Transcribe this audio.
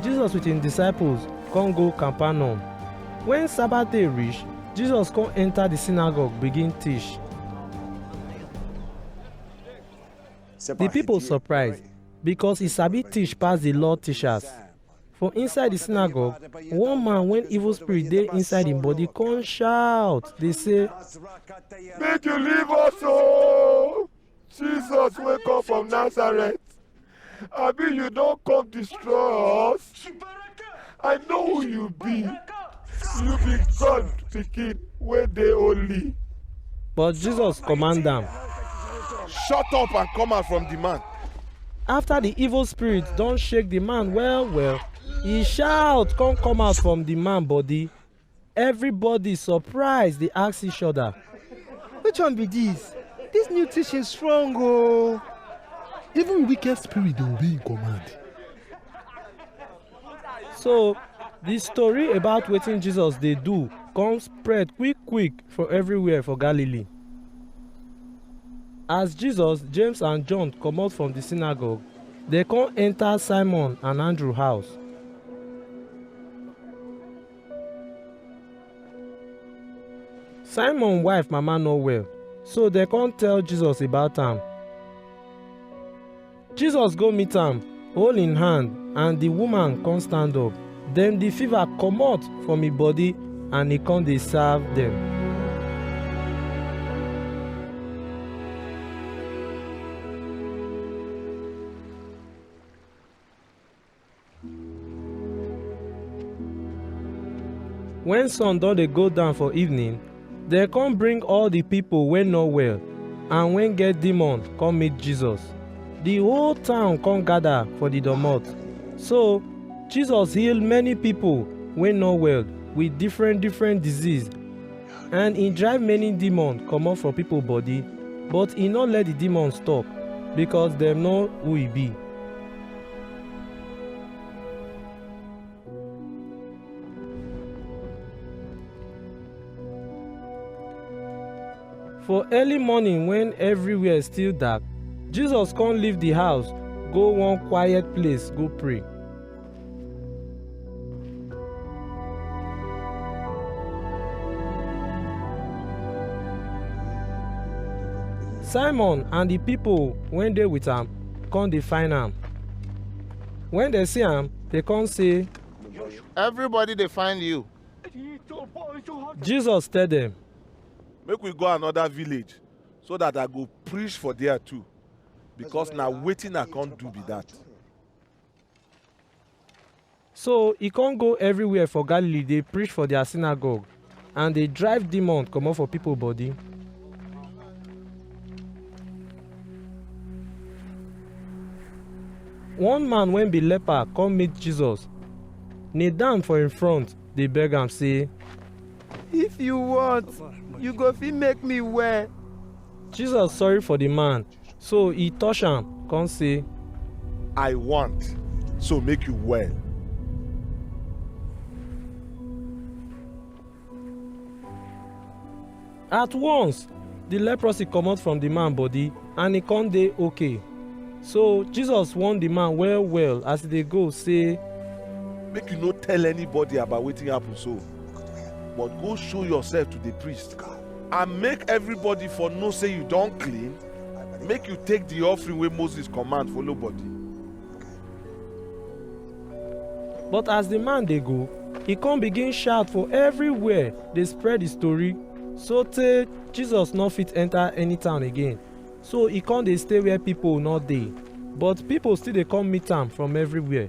Jesus with him disciples come go Capernaum. When Sabbath day reach, Jesus come enter the synagogue begin teach. The people surprised because he sabi teach pass the law teachers. For inside the synagogue, one man when evil spirit dey inside him body come shout dey say, Make you leave us, oh! Jesus wey come from Nazareth, abi you don come destroy us? I know who you be. You be God pikin wey dey holy. But Jesus command am. Shut up and come out from the man. After the evil spirit don shake the man well well, he shout come come out from the man body. Everybody surprise dey ask each other. Which one be this? This new teaching strong oh. Even wicked spirit dey obey him command. So the story about wetin Jesus dey do come spread quick quick for everywhere for Galilee. As Jesus, James and John comot from the synagogue, dem come enter Simon and Andrew house. Simon wife mama no well, so dem come tell Jesus about am. Jesus go meet am, hold im hand, and the woman come stand up. Then the fever comot from im body and e come dey serve dem. When sun don dey go down for evening, dem come bring all the people wey no well and wey get demon come meet Jesus. The whole town come gather for the domot. So Jesus heal many people wey no well with different different disease and he drive many demon comot for people body but he no let the demon stop because dem know who he be. For early morning when everywhere still dark, Jesus come leave the house go one quiet place go pray. simon and the people wey dey with am come dey find am when dem see am they come say Everybody dey find you. jesus tell them Make we go another village so that I go preach for there too. Because na wetin I come do be that. So e con go everywhere for Galilee dey preach for their synagogue and dey drive demon comot for people body. One man wey be leper come meet Jesus, kneel down for im front dey beg am say, If you want, you go fit make me well. Jesus sorry for the man So e touch am, come say, I want, so make you well. At once, the leprosy comot from the man body and e come dey okay. So Jesus warn the man well well as e dey go say, Make you no tell anybody about wetin happen so, but go show yourself to the priest and make everybody for know say you don clean make you take the offering wey moses command follow body. but as the man dey go he come begin shout for everywhere dey spread the story so tey jesus no fit enter any town again so he come dey stay where people no dey but people still dey come meet am from everywhere